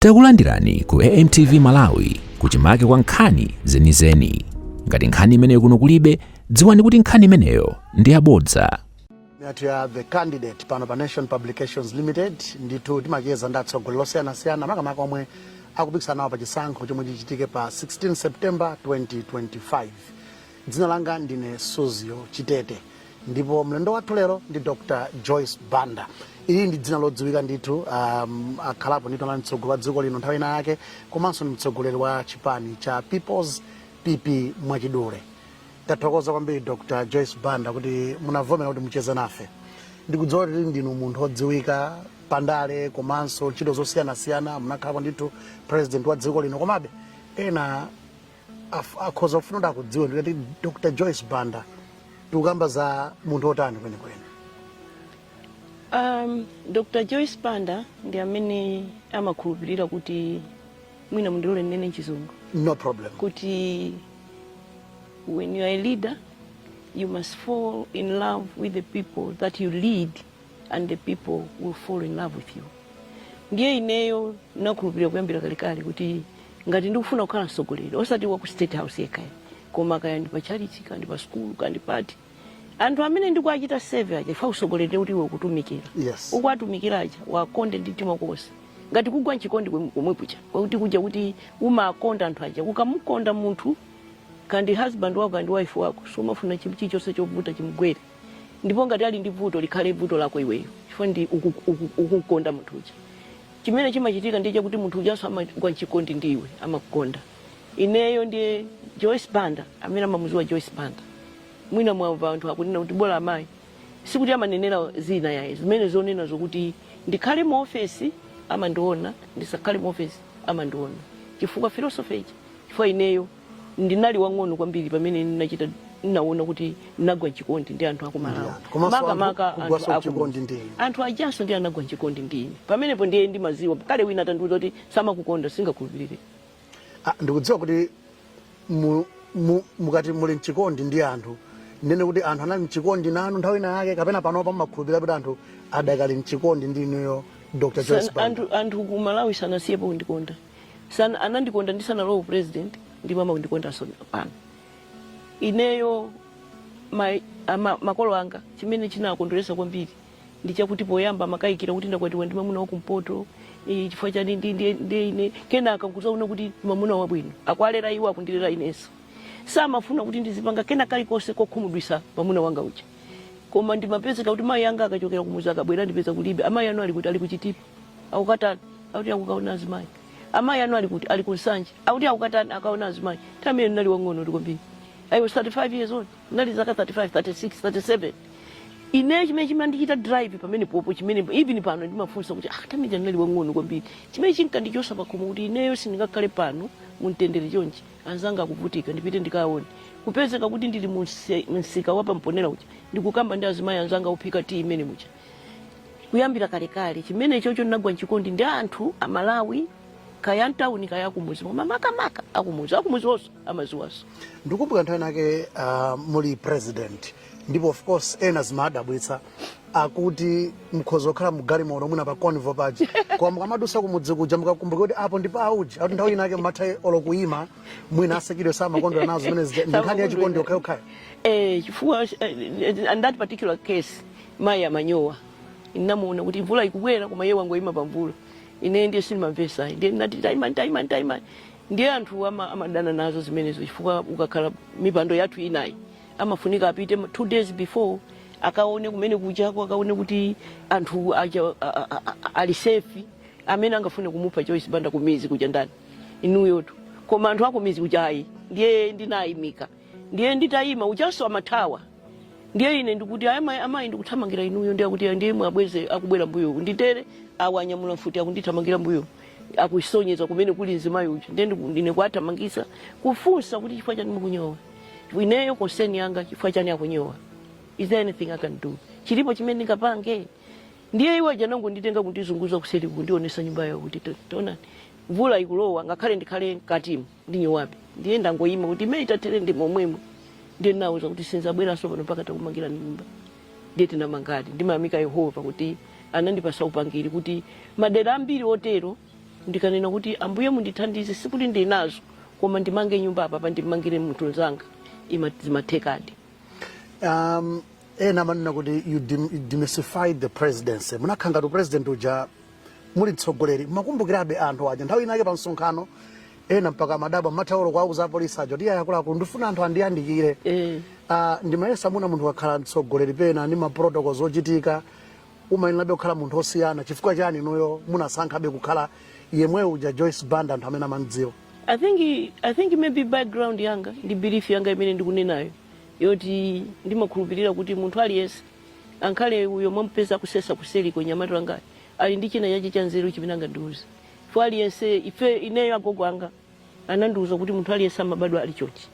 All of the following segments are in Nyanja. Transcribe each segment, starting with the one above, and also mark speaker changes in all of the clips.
Speaker 1: Takulandirani ku AMTV Malawi kuchimake kwa nkhani zenizeni. Ngati nkhani imeneyo kuno kulibe, dziwani kuti nkhani imeneyo ndi yabodza. Meet the
Speaker 2: candidate pano pa nation publications limited ndithu timacheza ndi atsogoleri osiyanasiyana makamaka omwe akupikisana nawo pa chisankho chomwe chichitike pa 16 september 2025 Dzina langa ndine Suzgo Chitete ndipo mlendo wathu lero ndi Dr. Joyce Banda. Ili ndi dzina lodziwika ndithu, um, akhalapo ndithu anali mtsogoleri wa dziko lino nthawi ina yake komanso ndi mtsogoleri wa chipani cha People's PP mwachidule. Tathokoza kwambiri Dr. Joyce Banda kuti munavomera kuti mucheze nafe. Ndikudziwa kuti ndinu munthu odziwika pandale komanso ntchito zosiyanasiyana munakhalapo ndithu president wa dziko lino komabe ena Af- akhoza kufuna kuti akudziweni kuti dr joyce banda tikukamba za munthu otani kwenikweni Um,
Speaker 3: Dr. Joyce Banda ndi amene amakhulupirira kuti mwina mundilole ndinene m'chizungu no
Speaker 2: problem
Speaker 3: kuti when you are a leader you must fall in love with the people that you lead and the people will fall in love with you ndiye ineyo nakhulupirira kuyambira kalekale kuti ngati ndikufuna kukhala mtsogoleri osati wa ku state house yekha koma kaya ndi pa chalichi kaya ndi pa sukulu kaya ndi pati anthu amene ndikuachita seve aja ifa utsogoleri ndi kuti iwe ukutumikira Yes.
Speaker 2: ukuwatumikira
Speaker 3: aja uwakonde ndi mtima konse ngati kugwa mchikondi kwem- komwe kuja kwakuti kuja kuti umakonda anthu aja ukamukonda munthu kaya ndi husband wako kaya ndi wife wako sumafuna chinthu chilichonse chovuta chimgwere ndipo ngati ali ndi vuto likhale vuto lako iweyo chifukwa ndi uku- uku- ukumkonda munthu uja chimene chimachitika ndiye chakuti munthu ujanso amagwa mchikondi ndi iwe amakukonda ineyo ndiye joyce banda amene amamuziwa joyce banda mwina mwamva anthu akunena kuti bola amayi sikuti amanenera zina ayi zimene zonena zokuti ndikhale mu ofesi amandiona ndisakhale mu ofesi amandiona chifukwa philosophy ichi chifukwa ineyo ndinali wang'ono kwambiri pamene ndinachita ndinaona kuti ndinagwa mchikondi ndi anthu aku malawi Yeah. Komanso anthu makamaka anthu kugwanso aku- mchikondi ndi inu. anthu ajanso ndi anagwa mchikondi ndi ine pamenepo ndiye ndimaziwa kale wina atandiuza kuti samakukondani singakhulupirire
Speaker 2: Ah, ndikudziwa kuti mu- mu- mukati muli mchikondi ndi anthu ndiye kuti anthu anali mchikondi nanu nthawi ina yake kapena panopa mmakhulupirira kuti anthu adakali mchikondi ndi inuyo dr joyce San- banda anthu anthu ku malawi
Speaker 3: sanasiyepo kundikonda San, anandikonda ndisanalowe upresident ndipo amandikondanso pano ineyo ma, ama, makolo anga chimene chinakondweresa kwambiri ndi chakuti poyamba amakayikira kuti ndakwatiwa ndi mamuna wakumpoto eh, chifukwa chani ndi- ndi- ndi ine kenaka nkuzaona kuti ndi mamuna wabwino akuwalera iwo akundilera inenso samafuna kuti ndizipanga kena kalikonse kokhumudwisa mamuna wanga uja koma ndimapezeka kuti mayi anga akachokera kumuzi akabwera andipeza kulibe amayi anu ali kuti ali ku Chitipa akukatani akuti akukaona azimayi amayi anu ali kuti ali ku nsanje akuti akukatani akaona azimayi nthawi imene ndinali wang'ono kwambiri i was 35 years old ndinali zaka 35 36 37 ine chimene chimandichita drive pamenepopo chimene even pano ndimafunsa kuti ah pamene ndinali wang'ono kwambiri chimene chinkandichosa pakhomo kuti ineyo sindingakhale pano mumtendere chonchi anzanga akuvutika ndipite ndikaone kupezeka kuti ndili mu mse- msika wa pa Mponela uja ndikukamba ndi azimayi anzanga ophika tiyi mmenemuja kuyambira kalekale chimenechocho ndinagwa mchikondi ndi anthu amalawi kaya mtawuni kaya akumuzi koma makamaka akumuzi akumuzi onse amaziwaso ndikumbukira nthawi
Speaker 2: inake uh, muli president ndipo of course ena zimadabwitsa kuti mukhoza kukhala mgalimoto mwina pa convoy paja koma mukamadusa kumudzi kuja mukakumbuka kuti apo ndi pa uje akuti nthawi inake mmatha olo kuyima mwina a security samakondwera nazo zimene zija ndi nkhani yachikondi yokhayokhayo eh, chifukwa
Speaker 3: eh, in that particular case Mayi amanyowa. Ndinamuona kuti mvula ikubwera koma iye wangoima pamvula. Ineyo ndiye sindimamvetsa ayi. Ndiye ndinati taimani, taimani, taimani. Ndiye anthu ama- amadana nazo zimenezo chifukwa ukakhala mipando yathu inoyi amafunika apite ma- two days before akaone kumene kujako akaone kuti anthu aja a- a- a- a- ali safe amene angafune kumupha Joyce Banda kumuzi kuja ndani inuyotu koma anthu akumuzi kuja ayi ndiye ndinayimika ndiye nditayima ujanso amathawa ndiye ine ndikuti ayi amayi amayi ndikuthamangira inuyo ndiye akuti ndiye iwo abweze akubwera mbuyo nditere awa anyamula mfuti akundithamangira mbuyo akusonyeza kumene kuli mzimayi uja ndiye ndiku- ndine kuathamangisa kufunsa kuti chifukwa chani mukunyowa ineyo concern yanga chifukwa chani akunyowa is there anything i can do chilipo chimene ndingapange ndiye uja anangonditenga kundizunguza kuseri kundionesa nyumba yawo kuti to- taonani mvula ikulowa ngakhale ndikhale mkatimo ndinyowabe ndiye ndangoyima kuti mmene itathere ndi momwemo ndiye ndinamuuza kuti sinzabweranso pano mpaka titakumangira nyumba ndiye tinamangadi ndimayamika yehova kuti anandipasa upangiri kuti madera ambiri otero ndikanena kuti ambuye mundithandize sikuti ndinazo koma ndimange nyumba apapa ndimangire munthu nzanga ima- zimathekadi um,
Speaker 2: ena amanena kuti you dem- demystified the presidency munakhala ngati upresident uja muli mtsogoleri mmakumbukirabe anthu aja nthawi inake pa msonkhano ena mpaka amadabwa mmatha olo kuwauza apolisi aja iyayi akuluakulu ndifuna anthu andiyandikire Eh. Ah, ndimayesa mwina munthu akakhala mtsogoleri pena ndi maprotocols ochitika umayenerabe kukhala munthu osiyana chifukwa chani inuyo munasankhabe kukhala yemwe uja joyce banda anthu amene amamdziwa I
Speaker 3: think I think maybe background yanga ndi belief yanga imene ndikunenayo yoti ndimakhulupirira kuti munthu aliyense Ankhale uyo mwamupeza akusesa kuseliko nyamata wanga ali ndi china chache chanzeru chimene angandiuze chifukwa aliyense ife ineyo agogo anga anandiuza kuti munthu aliyense amabadwa ali chonchi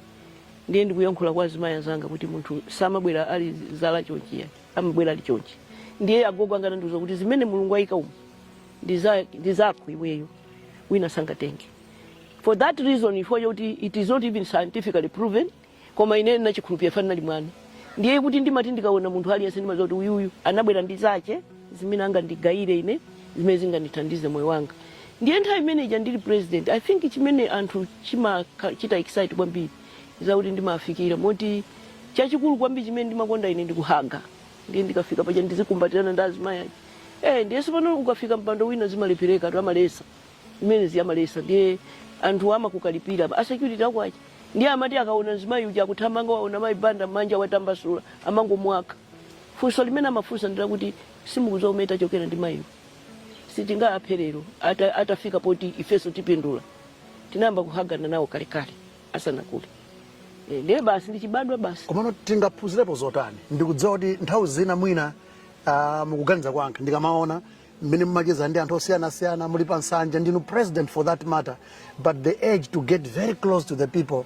Speaker 3: ndiye ndikuyankhula kwa azimayi anzanga kuti munthu samabwera ali zala chonchi ya amabwera ali chonchi ndiye agogo anga anandiuza kuti zimene mulungu ayika umu ndi za- ndi zako iweyo wina sangatenge for that reason chifukwa chakuti it is not even scientifically proven koma ine ndinachikhulupirira chifukwa ndinali mwana ndiye kuti ndimati ndikaona munthu aliyense ndimadziwa kuti uyuyu anabwera ndi zache zimene angandigayire ine zimene zingandithandize moyo wanga ndiye nthawi imene ija ndili president i think chimene anthu chimawachita excite kwambiri zakuti ndimafikira moti chachikulu kwambiri chimene ndimakonda ine ndikuhaga ndiye ndikafika paja ndizikumbatirana ndi azimayi aja eh ndiye tsopano ukafika mpando wina zimalephereka tu amalesa imene ziyamalesa ndiye anthu amakukalipira asecurity akwiya Ndiye amati akaona mzimayi uja akuthamanga waona mayi Banda manja watambasula amangomuwakha. Funso limene amafunsa ndilakuti simukudziwa kumene tachokera ndi mayiwa. Sitingaaphe lero ata, atafika poti ifenso tipindula. Tinayamba kuhagana nawo kalekale asanakule. Eh, ndiye basi ndichibadwa basi. komano tingaphunzirepo
Speaker 2: zotani ndikudziwa kuti nthawi zina mwina uh, mukuganiza kwanga ndikamaona mmene mumacheza ndi anthu osiyanasiyana muli pa nsanja ndinu president for that matter but the urge to get very close to the people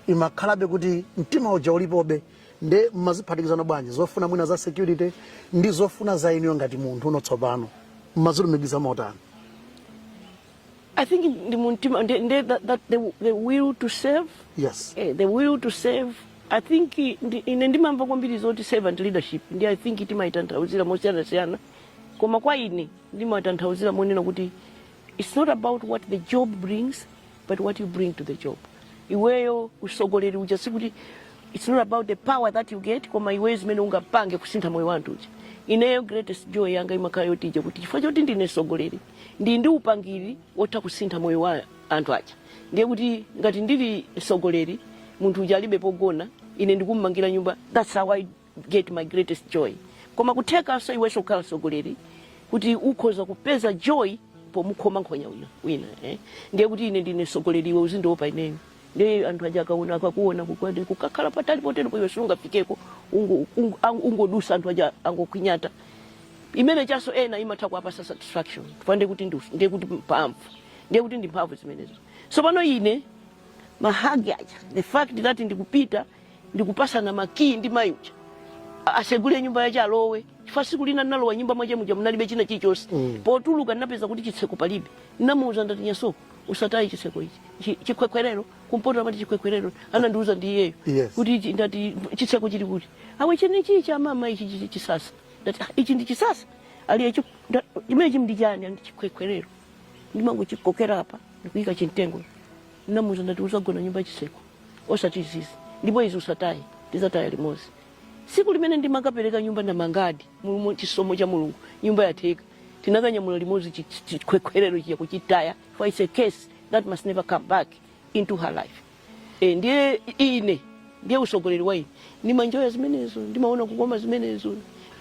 Speaker 2: imakhalabe kuti mtima uja ulipobe nde mmaziphatikizana bwanji zofuna mwina za security ndi zofuna za inuyo ngati munthu uno tsopano mmazilumikiza
Speaker 3: motani I think ndi mumtima ndi ndi that, that the, the will to serve yes eh, the
Speaker 2: will to
Speaker 3: serve I think ndi, ine ndimamva kwambiri zoti servant leadership ndi I think timaitanthauzira mosiyanasiyana koma kwa ine ndimatanthauzira monena kuti its not about what the job brings but what you bring to the job iweyo usogoleri uja sikuti its not about the power that you get koma iweyo zimene ungapange kusintha moyo wa anthu uja ineyo greatest joy yanga imakhala yoti ija kuti chifukwa choti ndine sogoleri ndi ndi upangiri wotha kusintha moyo wa anthu aja ndiye kuti ngati ndili sogoleri munthu uja alibe pogona ine ndikummangira nyumba that's how i get my greatest joy koma kuthekanso iwenso kukhala mtsogoleri kuti ukhoza kupeza joy pomukhoma nkhonya uyo wina eh? ndiye kuti ine ndine mtsogoleri iwe uzindiopa ineyo ndiye anthu aja akaona akakuona kukwati kukakhala patali poteropo iwe siungafikeko ungo- ungo- ang- ungodusa anthu aja angokwinyata chimenechonso ena imatha kuwapasa satisfaction chifukwa ndiye kuti ndi- ndiye kuti mphamvu ndiye kuti ndi mphamvu zimenezo tsopano ine mahagi aja the fact that ndikupita ndikupasana makiyi ndi mayi uja A- asegule nyumba yache alowe chifukwa siku lina ndinalowa nyumba mwache muja munalibe china chilichonse Mm. potuluka ndinapeza kuti chitseko palibe ndinamuuza ndati nyasoko usataye chitseko ichi Chi- chikhwekhwerero kumpoto amati chikhwekhwerero anandiuza ndi iyeyo Yes. kuti ichi- ndati chitseko chili kuti awe chene ichi cha mama ichi chi- chi- chisasa ndati "Ah, ichi ndi chisasa aliye chimenechi ndi chani andi chikhwekhwerero ndimangochikokera apa ndikuyika chimtengo ndinamuuza ndati uzagona nyumba yachitseko osati izizi ndipo izi usataye tizataya limodzi siku limene ndimakapereka nyumba ndamangadi mu chisomo cha mulungu nyumba yatheka tinakanyamula limodzi chi- chi- chikhwekhwerero chija kuchitaya for it's a curse that must never come back into her life e, ndiye ine ndiye usogoleri wa ine ndimanjoya zimenezo ndimaona kukoma zimenezo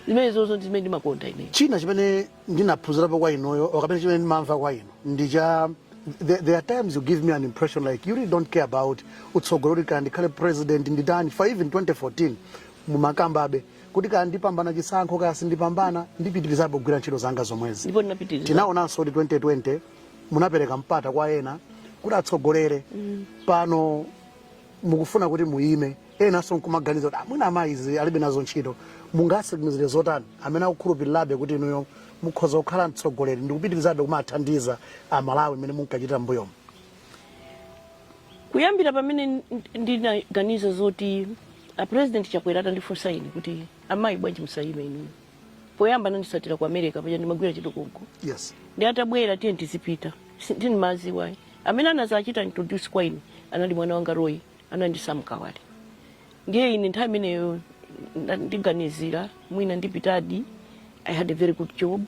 Speaker 3: zimenezozo ndi zimene ndimakonda ine china chimene
Speaker 2: ndinaphunzirapo kwa inuyo or kapena chimene ndimamva kwa inu ndi cha there, there are times you give me an impression like you really don't care about utsogoleri kuti kaya ndikhale president nditani for even 2014 mumakambabe kuti kaya ndipambana chisankho kaya sindipambana ndipitirizabe kugwira ntchito zanga zomwezi ndipo ndinapitiriza
Speaker 3: tinaonanso kuti 2020
Speaker 2: munapereka mpata kwa ena kuti atsogolere pano mukufuna kuti muyime enanso nkumaganiza kuti a mwina amayi izi alibe nazo ntchito mungatsimikizire zotani amene akukhulupirirabe kuti inuyo mukhoza kukhala mtsogoleri ndi kupitirizabe kumathandiza amalawi mmene munkachitira
Speaker 3: mbuyomo kuyambira pamene ndinaganiza zoti a president chakwera atandifunsa ine kuti amayi bwanji musayime inuyo poyamba anandisatira ku america paja ndimagwira ntchito
Speaker 2: konko
Speaker 3: yes ndi atabwera tiye tizipita sindimaziwa ayi amene anazachita introduce kwa ine anali mwana wanga roy ndi sam kawale ndiye ine nthawi imeneyo nda- ndiganizira mwina ndipitadi i had a very good job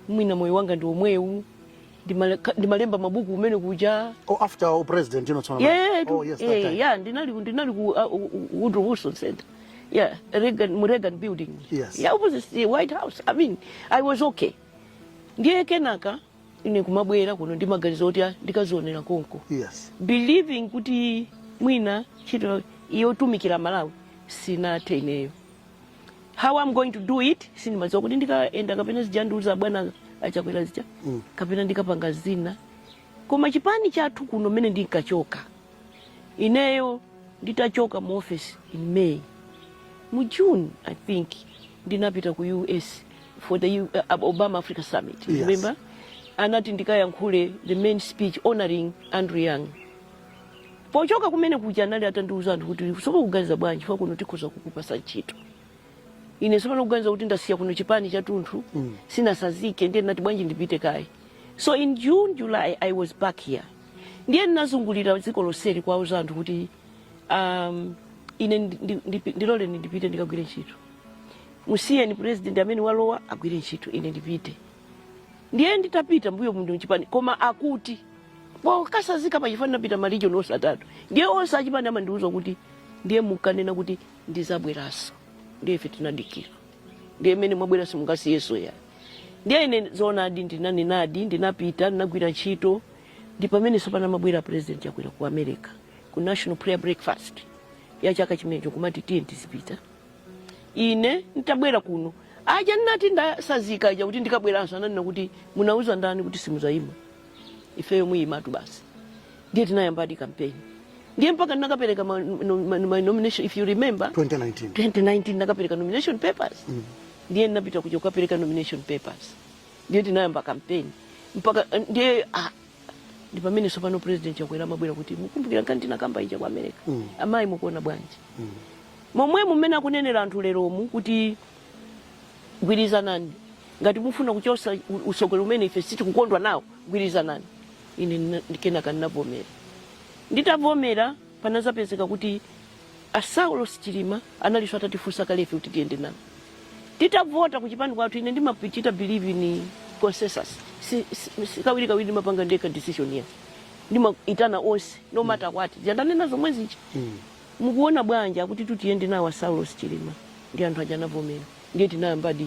Speaker 3: mwina moyo wanga ndi omwewu ndimale- ndimalemba mabuku kumene kuja Oh, after oh, president,
Speaker 2: you know, so Yeah, oh, yes, that
Speaker 3: yeah, time. yeah, ndinali ndinali ku uh, uh, Woodrow Wilson Center. Yeah, Reagan, mu Reagan building. Yes. Yeah, opposite the White House. I mean, I was okay. Ndiye kenaka ine kumabwera kuno ndi maganizo oti ah, ndikazionera konko. Yes. Believing kuti mwina ntchito yotumikira Malawi sinathe ineyo. how i'm going to do it sindimadziwa kuti ndikaenda kapena zija ndiuza bwana achakwera zija Mm. kapena ndikapanga zina koma chipani chathu kuno mmene ndinkachoka ineyo nditachoka mu office in may mu june i think ndinapita ku us for the U- uh, obama africa summit Yes. remember anati ndikayankhule the main speech honoring andrew young pochoka kumene kuja anali atandiuza anthu kuti sopano mukuganiza bwanji ife kuno tikhoza kukupasa ntchito ine sopano kuganiza kuti ndasiya kuno chipani chathunthu mm. sindinatsanzike ndiye ndinati bwanji ndipite kaye so in june july i was back here ndiye ndinazungulira dziko lonseli kuwauza anthu kuti um, ine ndi- ndi- ndi- ndiloleni ndipite ndikagwire ntchito musiyeni president amene walowa agwire ntchito ine ndipite ndiye nditapita mbuyo muno chipani koma akuti pokatsanzika pa chipani ndinapita marijoni onse atatu ndiye onse achipani amandiuza kuti ndiye munkanena kuti ndidzabweranso ndiye ife tinadikira ndiye mmene mwabwera simungatisiyenso ayi ndiye ine zoonadi ndinanenadi ndinapita ndinagwira ntchito ndi pamene sopano amabwera president Chakwera ku america ku national prayer breakfast ya chaka chimenecho kumati tiye tizipita ine ntabwera kuno aja nnati ndatsanzika aja kuti ndikabweranso ananena kuti munauza ndani kuti simudzayima ifeyo muyimatu basi ndiye tinayambadi kampeni ndiye mpaka ndinakapereka ma, no, ma, ma nomination if you remember 2019 2019 ndinakapereka nomination papers mm. ndiye ndinapita kuja kukapereka nomination papers ndiye tinayamba kampeni mpaka ndiye ah, ndi pamene sopano president Chakwera amabwera kuti mukumbukira nkhani tinakamba ija ku america mm. amayi mukuona bwanji mm. Momwemo mmene akunenera anthu leromu kuti gwirizanani, ngati mufuna kuchotsa utsogoleri umene ife sitikukondwa nawo, gwirizanani. Ine kenaka ndinavomera. Nditavomera, panadzapezeka kuti a Saulos Chilima analinso atatifunsa kale ife kuti tiyende nawo. Titavota kuchipani kwathu, ine ndimachita believe in consensus. Si, si, si kawirikawiri ndimapanga ndekha decision ayi ndimaitana onse no matter what. Zija ndanena zomwe zija. Mm. Mukuona bwanji akutitu tiyende nawo a Saulos Chilima ndi anthu aja anavomera ndiye tinayambadi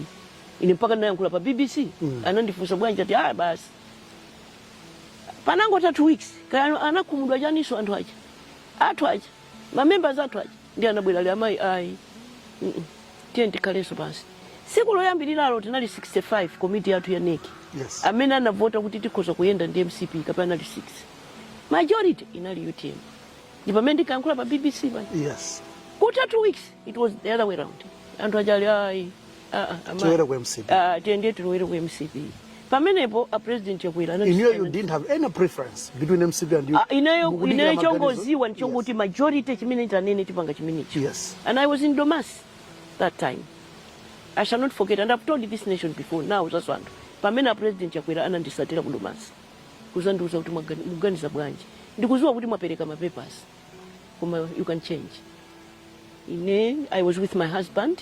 Speaker 3: ine mpaka ndinayankhula pa BBC anandifunsa bwanji ati ah basi panangotha two weeks kaya anakhumudwa chaninso anthu aja athu aja mamembers athu aja ndiye anabwera ali amayi ayi Mm, mm. tiyeni tikhalenso pansi tsiku loyambiriralo tinali 65 komiti yathu ya NEC Yes. amene anavota kuti tikhoza kuyenda ndi mcp kapena anali 6 majority inali utm ndi pamene ndinakayankhula pa bbc pa yes kutha two weeks it was the other way round anthu aja ali ayi ah, ah, amayi. Tiwere
Speaker 2: ku MCP. Ah, tiyende tilowere ku
Speaker 3: mcp pamenepo a president Chakwera anati- inuyo you didn't have any
Speaker 2: preference between mcp and you Ah, ineyo Mukudikira ineyo maganizo?
Speaker 3: chongodziwa Yes. ndichokuti majority chimene atanene tipanga chimenechi Yes. and i was in Domasi that time i shall not forget and i've told this nation before now that's when pamene a president Chakwera ananditsatira ku Domasi kuzandiuza kuti mwagani- muganiza bwanji ndikuziwa kuti mwapereka mapepers koma you can change ine i was with my husband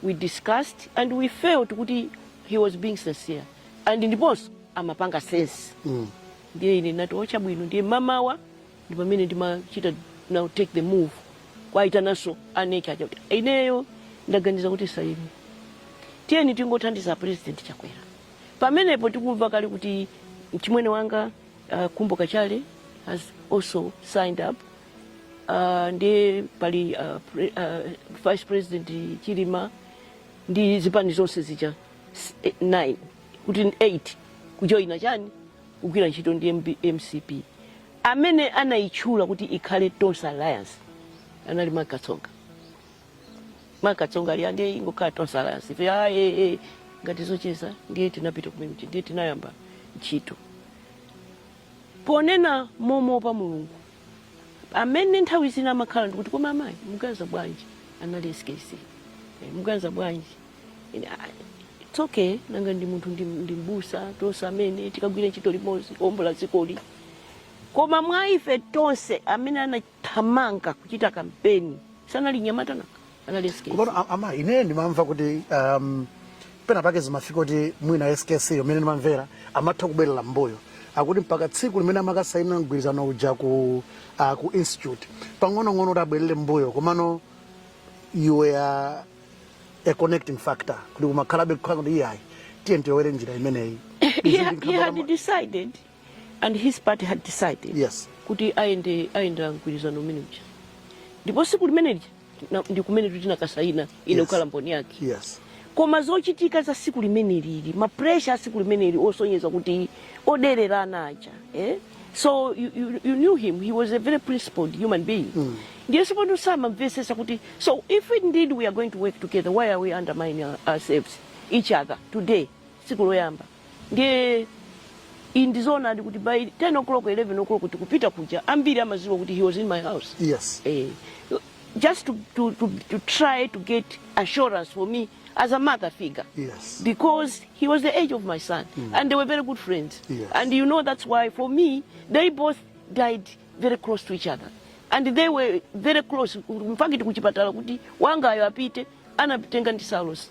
Speaker 3: we discussed and we felt kuti he was being sincere and ndiponso amapanga sense Mm. ndiye ine ndinati o chabwino ndiye mamawa ndi pamene ndimachita now take the move kwaitananso a NEC aja kuti ineyo ndaganiza kuti basi tiyeni tingothandiza president chakwera Pamenepo tikumva kale kuti mchimwene wanga uh, Khumbo Kachale has also signed up uh, ndiye pali uh, pre, uh, vice president Chilima ndi zipani zonse zija 9 eh, kuti 8 kujoina chani kugwira ntchito ndi MCP amene anayitchula kuti ikhale Tonse Alliance anali Mark Katsonga Mark Katsonga ali ndiye ingokhala Tonse Alliance ife ah, eh, eh. ngati zocheza ndiye tinapita kumene ndiye tinayamba ntchito ponena moopa Mulungu amene nthawi zina amakhala ndikuti koma amayi muganiza bwanji anali skc Eh, muganiza bwanji Ine, ah, it's okay nanga ndi munthu ndi, ndi mbusa tonse amene tikagwira ntchito limodzi kuombola dzikoli koma mwa ife tonse amene ana- thamanga kuchita kampeni anali mnyamata wanga anali skc Komano a- ama
Speaker 2: ine ndimamva kuti um, pena pake zimafika kuti mwina SKC mmene ndimamvera amatha kubwerera mbuyo akuti mpaka tsiku limene amakasaina mgwirizano uja ku, uh, ku institute pang'onong'ono kuti abwerere mbuyo komano you were a connecting factor kuti kumakhalabe kukhala kuti iyayi tiyeni tilowere njira imeneyi he, he
Speaker 3: had decided and his party had decided yes. kuti ayende ayenda mgwirizano umene uja ndipo siku limene lija na- ndi kumene tinakasayina ine Yes. kukhala mboni yake yes koma
Speaker 2: zochitika
Speaker 3: za siku limene lija mapresha a siku limene lija osonyeza kuti odererana aja eh? so you, you, you knew him he was a very principled human being mm. ndiye si pano samamvesesa kuti so if indeed we are going to work together why are we undermining our- ourselves each other today tsiku loyamba ndiye iyi ndizoonadi kuti by 10 o'clock 11 o'clock tikupita kuja ambiri amaziwa kuti he was in my house yes eh, just to, to, to, to try to get assurance for me as a mother figure yes because
Speaker 2: he was
Speaker 3: the age of my son mm. and they were very good friends yes. and you know that's
Speaker 2: why
Speaker 3: for me they both died very close to each other and they were very close mpaka tikuchipatala kuti wangayo apite anatenga ndi salos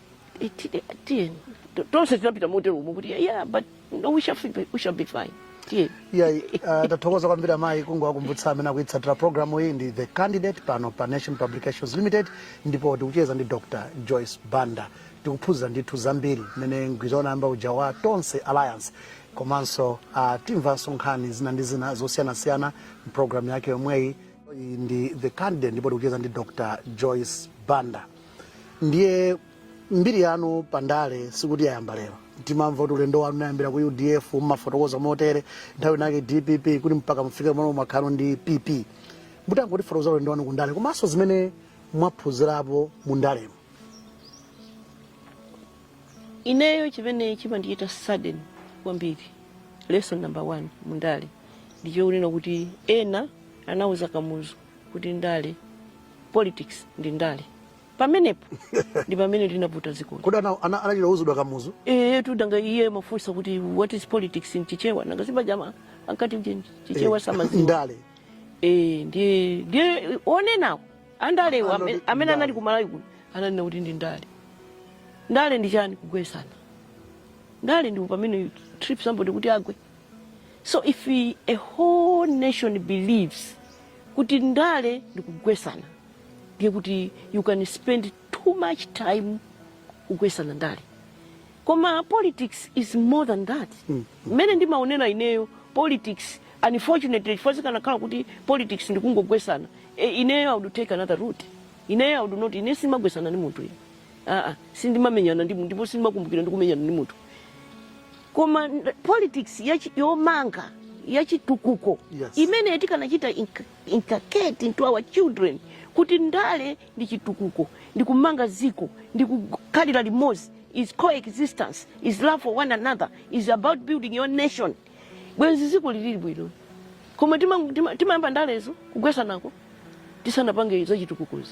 Speaker 3: Tiyeni, tiyeni. To- Tonse tinapita motero umo kuti yeah, but no, we shall, fi- we shall be fine. Tiyeni. iyayi
Speaker 2: uh, tathokoza kwambiri amayi kungowakumbutsa amene akuitsatira programu iyi ndi the candidate pano pa nation publications limited ndipo tikucheza ndi dr joyce banda tikuphunzira ndithu zambiri mmene mgwirizano unayamba uja wa tonse alliance komanso uh, timvanso nkhani zina ndi zina zosiyanasiyana mpulogalamu yake yomweyi Iyi ndi the candidate ndipo tikucheza ndi dr joyce banda ndiye mbiri yanu pa ndale sikuti yayamba lero timamva kuti ulendo wanu unayambira ku udf mumafotokoza motere nthawi inake dpp kuti mpaka mufike pamene mumakhala ndi pp mutangotifotokoza ulendo wanu ku ndale komanso zimene mwaphunzirapo mu
Speaker 3: ndalemo ineyo chimene chimandichita sadden kwambiri lesson number one mundale ndichokunena kuti ena anauza kamuzu kuti ndale politics ndi ndale pamenepo ndi pamene linavuta dzikoli kodi ana- ana- anachita uzidwa
Speaker 2: kamuzu Eh, tu danga iye
Speaker 3: mafunsa kuti what is politics in chichewa nanga si paja ankati nje chichewa Eh, samadziwa
Speaker 2: ndale eh ndiye
Speaker 3: ndiye onenawo andalewa Andale amene ndi amene ndale. anali kumalawi kuno ananena kuti ndi ndale ndale ndi chani kugwesana ndale ndi pamene you trip somebody kuti agwe so if a whole nation believes kuti ndale ndikugwesana ndiye kuti you can spend too much time kugwesana ndale koma politics is more than that mmene ndimaonera ineyo politics unfortunately chifukwa zikanakhala kuti politics ndikungogwesana e, ineyo i would take another route ineyo i would not ine simagwesana ndi munthu ine aa sindimamenyana ndi munthu ndipo sindimakumbukira ndikumenyana ndi munthu koma nd- politics yachi- yomanga yachitukuko Yes. imene tikanachita inc- inculcate into our children kuti ndale ndi chitukuko ndi kumanga ziko ndi kukhalira limodzi is coexistence is love for one another is about building your nation bwenzi ziko lili bwino koma timayamba tima, timayamba ndalezo kugwesanako tisanapange zachitukukozo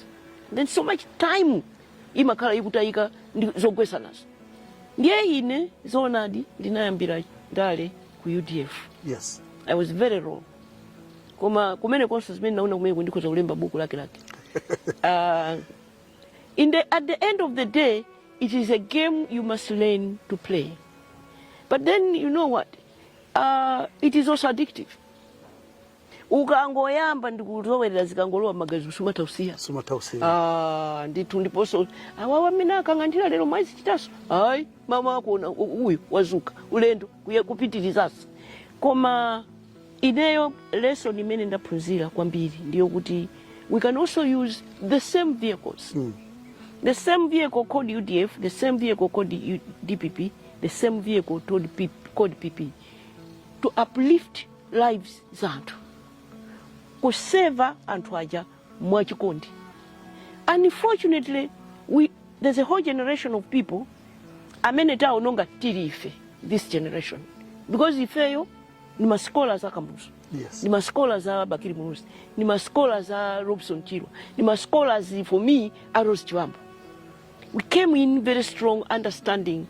Speaker 3: then so much time imakhala ikutayika ndi zogwesanazo ndiye ine zoonadi ndinayambira ndale ku udf yes i was
Speaker 2: very
Speaker 3: young koma kumene konse zimene naona kumene ndikhoza kulemba buku lake lake uh, in the, at the end of the day it is a game you must learn to play but then you know what uh, it is also addictive ukangoyamba ndikuzolowera zikangolowa m'magazi sumatha kusiya sumatha kusiya Ah, ndithu ndiponso awawa amene akangandira lero mwazichitaso hayi mama wako una- u- uyu wazuka ulendo kuye kupitirizaso koma ineyo lesson imene ndaphunzira kwambiri ndiyo kuti we can also use the same vehicles Mm. the same vehicle called udf the same vehicle called U- dpp the same vehicle called P- called pp to uplift lives za anthu kuseva anthu aja mwachikondi unfortunately there's a whole generation of people amene taononga tili ife this generation because ifeyo ni masikola za kamuzu Yes. ni
Speaker 2: masikola
Speaker 3: za bakili muluzi ni masikola za robson chirwa ni masikola for me a rose chibambo we came in very strong understanding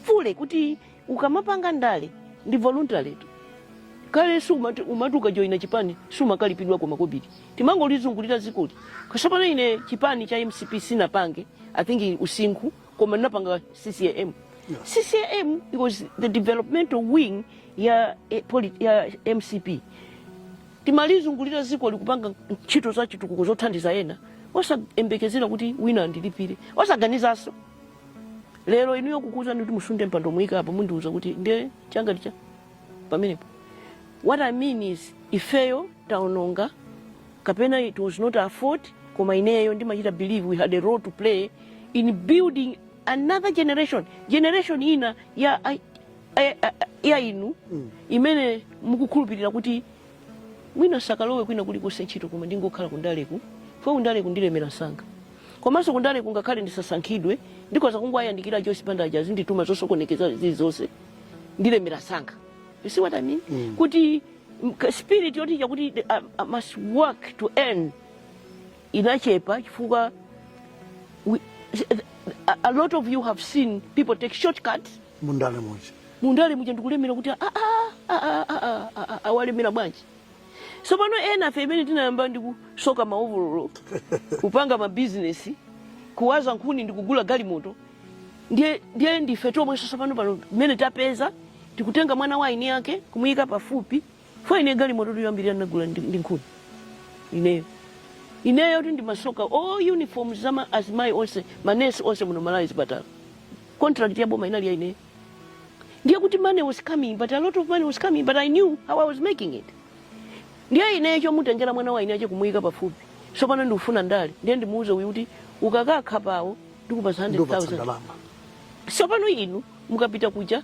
Speaker 3: fully kuti ukamapanga ndale ndi voluntarytu kale umati ukajoyina chipani sumakalipidwa makobiri timangolizungulira dzikoli sopano ine chipani cha mcp sinapange i think usinkhu koma ndinapanga ccam
Speaker 2: ccam
Speaker 3: was the developmental wing ya, eh, poli- ya mcp timalizungulira dzikoli kupanga ntchito za chitukuko zothandiza ena osayembekezera kuti wina andilipire osaganizanso lero inuyo kukuuzani kuti musunde mpando muyike apa mundiuza kuti nde changa ndi chani pamenepo what i mean is ifeyo taononga kapena it was not our fault koma ineyo ndimachita believe we had a role to play in building another generation ina ya, ya, ya inu imene mukukhulupirira kuti mwina sakalowe kwina kulikonse ntchito koma ndingokhala kundaleku chifukwa kundaleku ndilemera msanga komanso kundaleku ngakhale ndisasankhidwe ndikhoza kungowayandikira joyce banda aja azindituma zosokonekeza zilizonse ndilemera msanga you see what i mean mm. kuti mk- spirit yoti chakuti the- I, i must work to earn inachepa chifukwa we, a, a lot of you have seen people take shortcuts mundale muja mundale muja ndikulemera kuti awalemera bwanji sopano ena fe imene tinayamba ndi kusoka maovololo kupanga mabizinesi kuwaza nkhuni ndi kugula galimoto ndiye ndife tomwe nso sopano pano mmene tapeza tikutenga mwana wa eni yake kumuyika pafupi For ine galimototu yoyambirira ndinagula ndi nkhuni ineyotu ndimasoka all uniforms za ma- azimayi onse manesi onse muno malawi zipatala contract ya boma inali ya ineyo ndiye kuti money was coming but a lot of money was coming but i knew how i was making it ndiye ineyo chomutengera mwana wa eni yake kumuyika pafupi sopano ndikufuna ndale ndiye ndimuuze uyu kuti ukakakhapa awo ndikupasa 100000 sopano inu mukapita kuja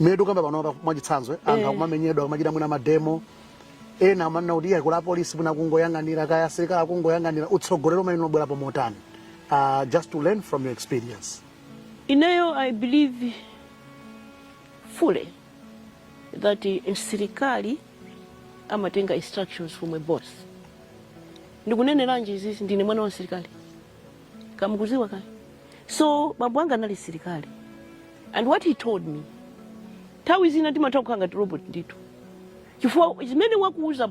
Speaker 3: mmene tikukamba
Speaker 2: pano apa mwachitsanzo eh, anthu Eh. akumamenyedwa akumachita mwina mademo ena amanena kuti iyayi kuli apolisi mwina kungoyang'anira kaya asilikali akungoyang'anira utsogolero umabwerapo motani uh, just to learn from your experience
Speaker 3: Ineyo, I believe fully that msirikali amatenga instructions from a boss. Ndikuneneranji izizi ndine mwana wa msirikali. kamukuziwa kale So bambo anga anali msilikali and what he told me nthawi zina timatha kukhala ngati robot ndithu chifukwa zimene wakuuza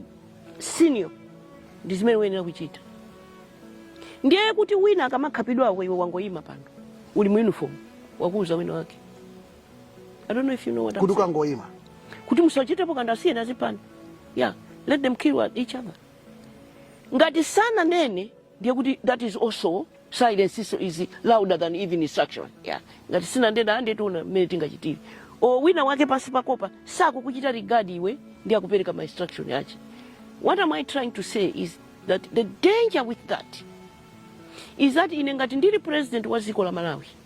Speaker 3: senior ndi zimene uyenera kuchita ndiye kuti wina akamakhapidwako iwe wangoyima pano uli mu uniform wakuuza wina wake i don't know if you know what I'm kuti saying. ukangoyima
Speaker 2: kuti musachitepo
Speaker 3: kanthu asiyeni aziphana yeah let them kill each other ngati sananene ndiye kuti that is also silence is louder than even instruction yeah. ngati sinanditu and tiona mmene tingachitire o wina wake pansi pakopa sakukuchita regard iwe ndi akupereka ma instruction yache what am i trying to say is that the danger with that is that ine ngati ndili president wa dziko la malawi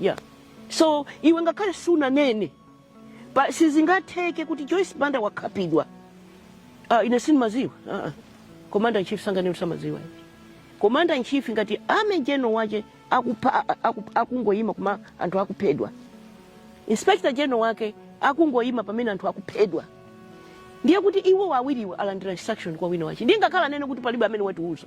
Speaker 3: yeah. so iwe ngakhale sunanene pa sizingatheke kuti joyce banda wakhapidwa ah, ine sindimaziwa ah, ah. commander in chief sanganene osamaziwa commander in chief ngati army general wache akupha aku- akungoyima koma anthu akuphedwa inspector general wake akungoyima pamene anthu akuphedwa ndiye kuti iwo awiriwo alandira instruction kwa wina wache ndingakhala nene kuti palibe amene watiuza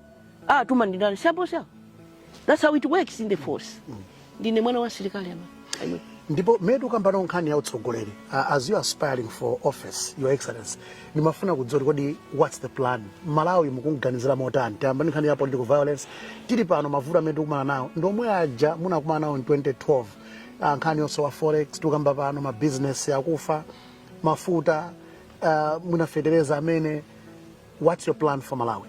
Speaker 3: Ah, tuma ndi ndani? Si apo si apo. That's how it works in the force. Ndine mwana wa asilikali ama. Amen. ndipo mmene
Speaker 2: tikukamba pano nkhani ya utsogoleri uh, as you are aspiring for office your excellency ndimafuna kudziwa kodi what's the plan malawi mukumuganizira motani takamba nkhani ya political violence tili pano mavuto amene tikumana nawo ndi omwe aja munakumana nawo in 2012 uh, nkhani yosowa forex tikukamba pano mabizinesi akufa mafuta uh, muna fetereza amene What's your plan for Malawi?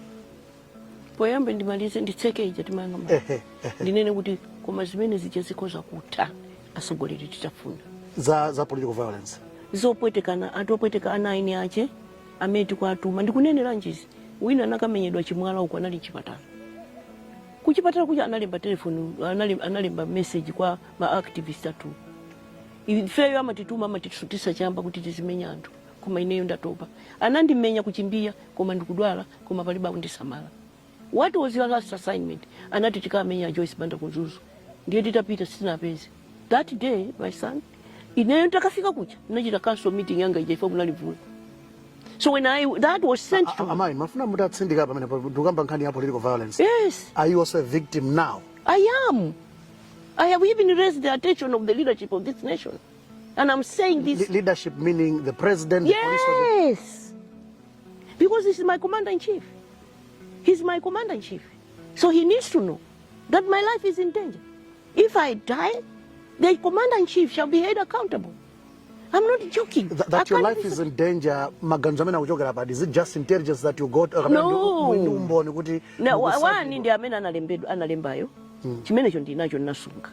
Speaker 3: poyamba ndimalize nditseke ija timanena mwa- Ehe, ehe. ndinene kuti koma zimene zija zikhoza kutha atsogoleri titafuna Za, za political
Speaker 2: violence. zopwetekana
Speaker 3: anthu opweteka ana a eni ache amene tikuatuma ndikunenera ndi izi wina anakamenyedwa chimwala uko anali mchipatala kuchipatala kuja analemba telefoni analemba, analemba message kwa maactivist athu ifeyo amatituma amatisutitsa chamba kuti tizimenya anthu koma ineyo ndatopa. Anandimenya kuchimbiya koma ndikudwala koma palibe akundisamala. What was your last assignment? Anati tikamenye a Joyce Banda ku Mzuzu. Ndiye titapita sitinawapeze. That day my son, ineyo nditakafika kuja ndinachita council meeting yanga ija ife kunali mvula. So when that was sent to me. Amai, ndimafuna
Speaker 2: mutatsindika pamene pa- tikukamba nkhani ya political violence. Yes. Are you also a
Speaker 3: victim
Speaker 2: now? I am. I
Speaker 3: have even raised the attention of the leadership of this nation. And I'm saying this. Le leadership meaning the
Speaker 2: president, yes. the police. Yes.
Speaker 3: Because he's my commander in chief. He's my commander in chief. So he needs to know that my life is in danger. If I die, the commander in chief shall be held accountable. I'm not joking. Th that your life is in
Speaker 2: danger, maganizo amene akuchokera pati, is it just intelligence that you got? Or no. Ndi umboni
Speaker 3: kuti. Na, wani ndi amene analembedwa analembayo. Hmm. Chimenecho ndinacho ndinasunga.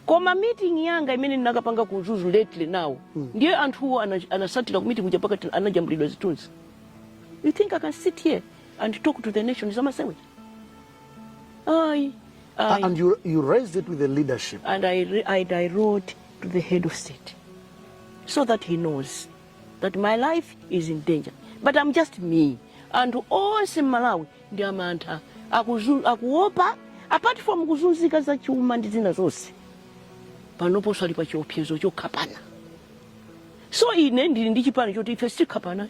Speaker 3: koma meeting yanga imene ndinakapanga ku mzuzu lately now mm. ndiye anthuwo anatsatira ku meeting kuja pakati anajambulidwa zithunzi you think i can sit here and talk to the nation zamasewera
Speaker 2: ayi I, and you, you raised it with the leadership and I,
Speaker 3: I, I wrote to the head of state so that he knows that my life is in danger but i'm just me anthu onse mmalawi ndi amantha akuopa apart from kuzunzika za chuma ndi zina zonse panoponso ali pa chiopsezo chokhapana so ine ndili ndi chipani choti ife sitikhapana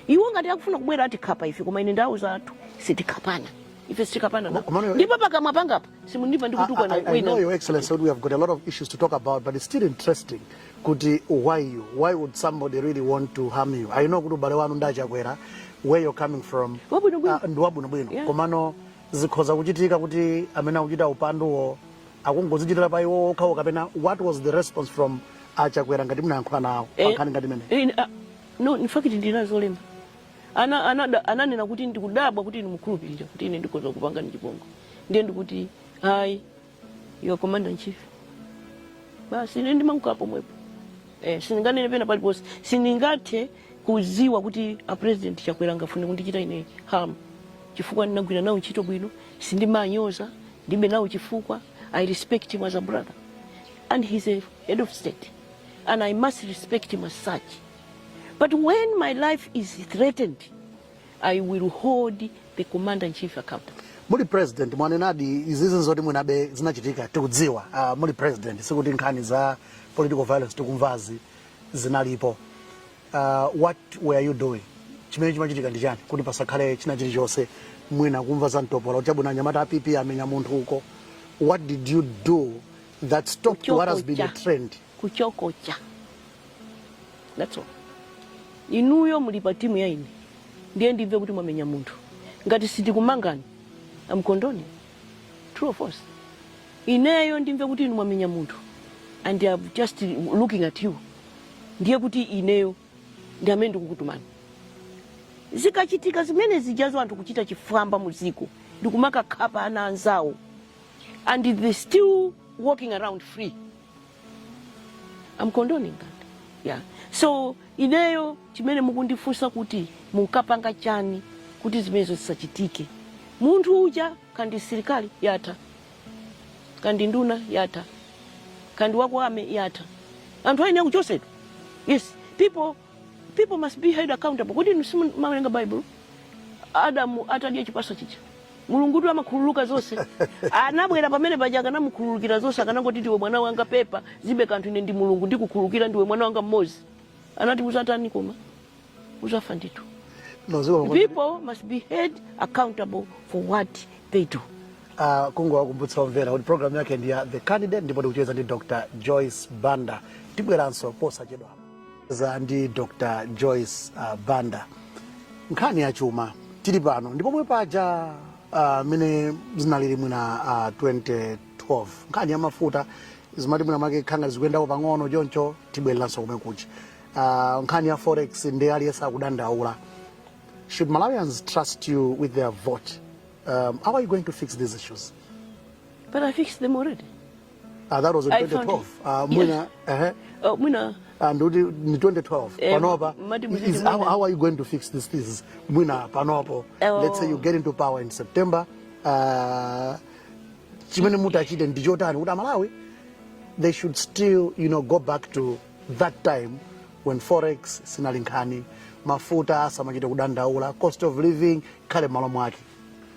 Speaker 3: iwo ngati akufuna kubwera atikhapa ife koma ine ndawauza kuti sitikhapana ife sitikhapana nawo. Koma- koma- ndipo pakamwa pangapo simundipeza ndikutukwana I, I know, wina Your Excellency, we
Speaker 2: have got a lot of issues to talk about, but it's still interesting kuti why you why would somebody really want to harm you i know kuti ubale wanu ndi achakwera where you're coming from Wabwinobwino. ah, ndi wabwinobwino Yeah. komano zikhoza kuchitika kuti amene akuchita upanduwo akungozichitira pa iwo okhawo kapena what was the response from achakwera ngati munayankhula nawo Eh, pankhani ngati imene eh, ah, no in
Speaker 3: fact ndili nazo zolemba ana anada- ananena kuti ndikudabwa kuti inu mukukhulupirira kuti ine ndikhoza kupangani chipongwe ndiye ndikuti ayi you are commander in chief basi ine ndimangokhala pomwepo eh, sindinganene pena paliponse sindingathe kuziwa kuti a president Chakwera angafune kundichita ine harm chifukwa ndinagwira nawo ntchito bwino sindimanyoza ndibe nawo chifukwa i respect him as a brother and he's a head of state and i must respect him as such but when my life is threatened I will hold the commander in chief accountable. Muli
Speaker 2: president mwanenadi izizi zoti mwinabe zinachitika tikudziwa. Uh, muli president sikuti nkhani za political violence tikumvazi zinalipo. Uh, what were you doing? Chimene chimachitika ndi chani kuti pasakhale china chilichonse mwina kumva za mtopola kuti chabwino anyamata a PP amenya munthu uko. What did you do that stopped what has been a trend?
Speaker 3: kuchokocha that's all inuyo muli pa timu ya ine ndiye ndimve kuti mwamenya munthu ngati sindikumangani I'm condoning true or false ineyo ndimve kuti inu mwamenya munthu and I'm just looking at you ndiye kuti ineyo ndi amene ndikukutumani zikachitika zimene zijazo anthu kuchita chifwamba mu dziko ndikumakakhapa ana anzawo and they're still walking around free I'm condoning that yeah. so ineyo chimene mukundifunsa kuti munkapanga chani kuti zimenezo zisachitike munthu uja kaya ndi msirikali kaya kaya ndi nduna kaya kaya ndi wako amene kaya anthu ayenera kuchosedwa yes people people must be held accountable kodi inu simumawerenga bible adamu atadya chipatso chija Mulungutu amakhululuka zonse. Anabwera pamene paja akanamukhululukira zonse akanangoti ndiwe mwana wanga pepa zibe kanthu ine ndi Mulungu ndikukhululukira ndiwe mwana wanga mmodzi. Anati uzatani koma? Uzafa ndithu. People must be held accountable for what they do. uh, kungowakumbutsa
Speaker 2: omvera kuti programu yake ndi ya the candidate ndipo ndikucheza ndi Dr Joyce Banda tibweranso posachedwa za ndi dr joyce uh, banda nkhani ya chuma tili pano ndi pomwe paja uh, mene zinalili mwina uh, 2012 nkhani ya mafuta zimati mwina make kanthawi zikuyendako pang'ono choncho tibwereranso komwe kuja uh, nkhani ya forex ndi aliyense akudandaula should malawians trust you with their vote um, how are you going to fix these issues But I
Speaker 3: fixed them already. Ah, that was
Speaker 2: in I found 2012. it. Ah, mwina, ehe. Oh,
Speaker 3: mwina Ah,
Speaker 2: ndikuti ni 2012 Eh, panopa mati muziti is- how, mwina. how are you going to fix these things mwina panopo Oh. let's say you get into power in september uh, chimene mutachite ndi chotani kuti amalawi they should still you know go back to that time when forex sinali nkhani mafuta samachite kudandaula cost of living ikhale m'malo mwake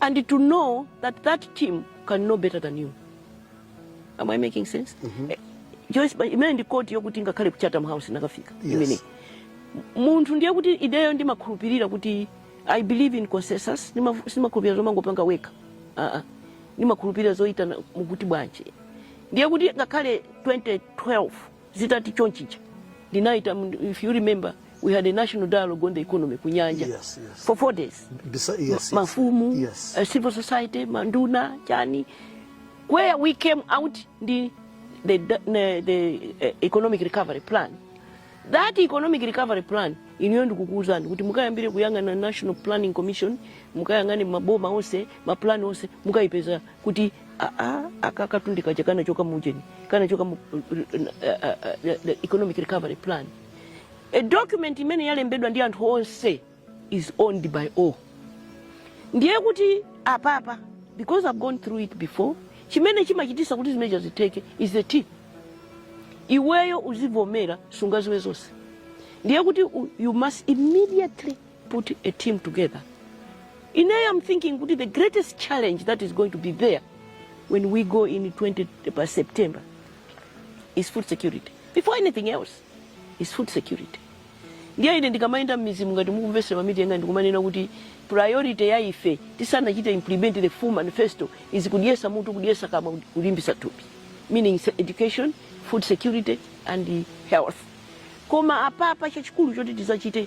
Speaker 3: and to know that that team can know better than you am i making sense mm -hmm. eh, joyce imene ndi koti yokuti ngakhale ku chatham house ndinakafika yes. imene munthu ndiye kuti ineyo ndimakhulupirira kuti i believe in consensus sindimakhulupirira zomangopanga wekha uh -uh. ndimakhulupirira zoyitana mukuti bwanji ndiye kuti ngakhale 2012 zitati chonchija ndinaita mm, if you remember we had a national dialogue on the economy kunyanja Yes, yes. for four days Bisa, yes, yes. mafumu Yes. uh, civil society manduna chani where we came out ndi the, the, the uh, economic recovery plan that economic recovery plan ineyo ndikukuuzani kuti mukayambire kuyang'ana national planning commission mukayang'ane maboma onse mapulani onse mukayipeza kuti aa aka katundu kaja kanachoka mu ujeni kanachoka mu uh, uh, uh, the economic recovery plan a document imene yalembedwa ndi anthu onse is owned by all ndiye kuti apapa because i've gone through it before chimene chimachitisa kuti zimenezo zitheke is the team iweyo uzivomera sungaziwe zonse ndiye kuti u- you must immediately put a team together ineyo am thinking kuti the greatest challenge that is going to be there when we go in 20 pa september is food security before anything else is food security ndiye ine ndikamayenda m'midzimu ngati mukumvesera ma meeting anga ndikumanena kuti priority ya ife tisanachite implement the full manifesto is kudyesa mutu kudyesa kamwa kulimbisa thupi meaning se- education food security and health koma apapa chachikulu choti tizachite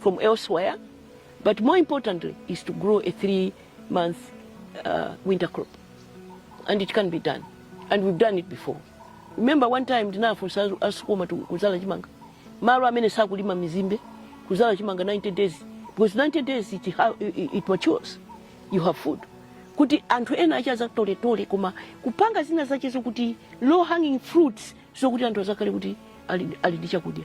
Speaker 3: from elsewhere, but more importantly is to grow a three month uh, winter crop. And it can be done. And we've done it before. Remember one time ndinafunsa asukuma kuzala chimanga. Malo amene sakulima mizimbe kuzala chimanga 90 days because 90 days it, it, it matures. You have food. kuti anthu ena achaza toletole koma kupanga zina zache zokuti low hanging fruits zokuti anthu azakhale kuti ali ndi chakudya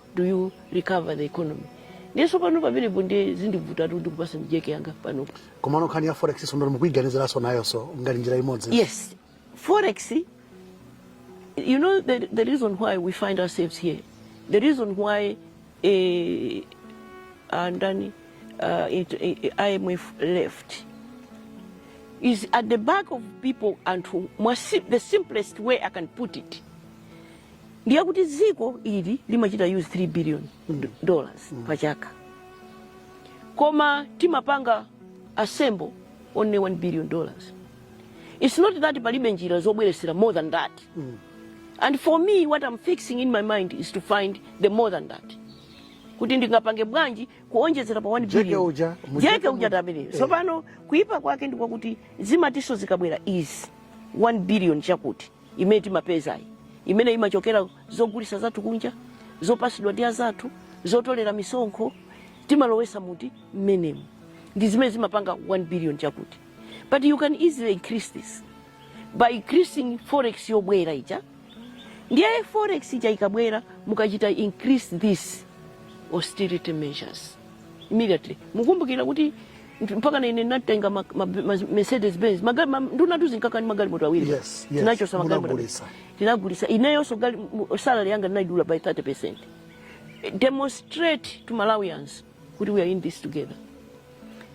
Speaker 3: do you recover the economy ndiye tsopano pamenepo ndiye zindivutatu ndikupasa ndi jeke yanga panopo komano nkhani ya forex sondolo mukuiganiziranso nayonso ngati njira imodzi yes forex you know the, the reason why we find ourselves here the reason why eh, uh, ndani uh, it, eh, imf left is at the back of people anthu mwa si- the simplest way i can put it ndi yakuti dziko ili limachita use 3 billion do- dollars pa chaka koma timapanga assemble only 1 billion dollars it's not that palibe njira zobweresera more than that and for me what i'm fixing in my mind is to find the more than that kuti ndingapange bwanji kuonjezera pa 1 Jeke billion uja, mu- jeke uja tameneyo so pano kuipa kwake ndikwakuti zimatiso zikabwera is 1 billion chakuti imene timapezayi imene imachokera zogulisa zathu kunja zopasidwa ndi azathu zotolera misonkho timalowesa muti mmenemo ndi zimene zimapanga 1 billion chakuti but you can easily increase this by increasing forex yobwera ija ndiye forex ija ikabwera mukachita increase these austerity measures immediately mukumbukira kuti mpaka na ine ndinatenga ma, ma, ma, mercedes benz magari ma, ndunatu zinkakani magalimoto awiri Yes, yes, tinachosa magalimoto
Speaker 2: munagulisa.
Speaker 3: tinagulisa ineyonso gali- mu- salary yanga ndinaidula by 30 percent demonstrate to malawians kuti we are in this together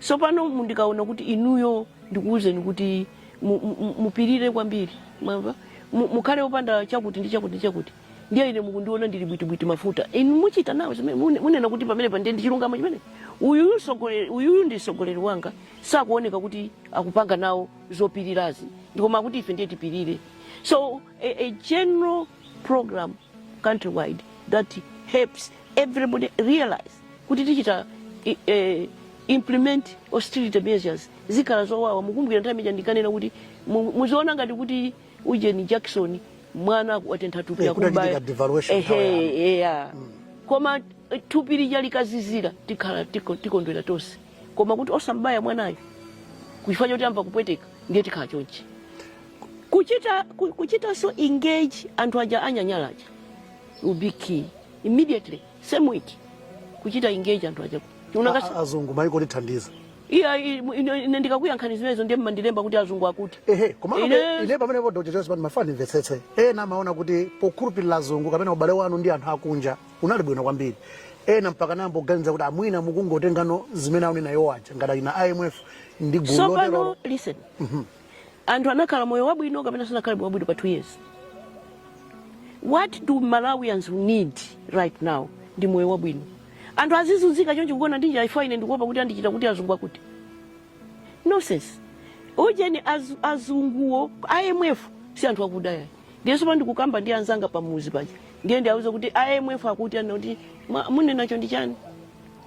Speaker 3: so pano mu- ndikaona kuti inuyo ndikuwuzeni kuti mu- mu- mu- mupirire kwambiri mwamva Mu- mukhale opanda chakuti ndi chakuti ndi chakuti ndiye ine mukundiona ndili bwitibwiti mafuta inu muchita nawo zimene mune- munena kuti pamenepa ndiye ndi chilungamo chimene uyuyu msogoleri- uyuyu ndi msogoleri wanga sakuoneka kuti akupanga nawo zopirirazi koma akuti ife ndiye tipirire so a, a general program countrywide that helps everybody realize kuti tichita i- eh, implement austerity measures zikhala zowawa mukumbukira nthawi ija ndikanena kuti mu- muziona ngati kuti ujeni jackson mwana aku- watentha thupi Eh, kuti akumba- achitika devaluation Ehe, nthawi yanu. kubaya koma eh, thupi lija likazizira tikhala tiko- tikondwera tonse koma kuti osambaya mwanayo chifukwa choti amva kupweteka ndiye tikhala chonchi kuchita ku- kuchitanso engage anthu aja ananyanyala aja will be key immediately same week kuchita engage anthu aja A- a- azungu maiko
Speaker 2: otithandiza iya i- ine
Speaker 3: ine ndikakuyankhani zimenezo ndiye mundilemba kuti azungu akuti ehe komano Ine-
Speaker 2: ine pamene po dr joyce banda ndimafuna ndimvetsetse ena amaona kuti pokhulupirira azungu kapena ubale wanu ndi anthu akunja unali bwino kwambiri ena mpaka nayamba kuganiza kuti ah mwina mukungotengano zimene akunena iwo aja ngati a imf ndi gulu lotero tsopano listen
Speaker 3: anthu anakhala moyo wabwino kapena sanakhale moyo wabwino pa two years what do malawians need right now ndi moyo wabwino anthu azizunzika choncho kugona ndi njala ifa ine ndikuopa kuti andichita kuti azungu akuti nonsense ujeni az, azunguwo imf si anthu a ku Dyeratu ndiye tsopano ndikukamba ndi anzanga pamudzi paja ndiye ndiauza kuti imf akuti anati "Mwa- munenacho ndi chani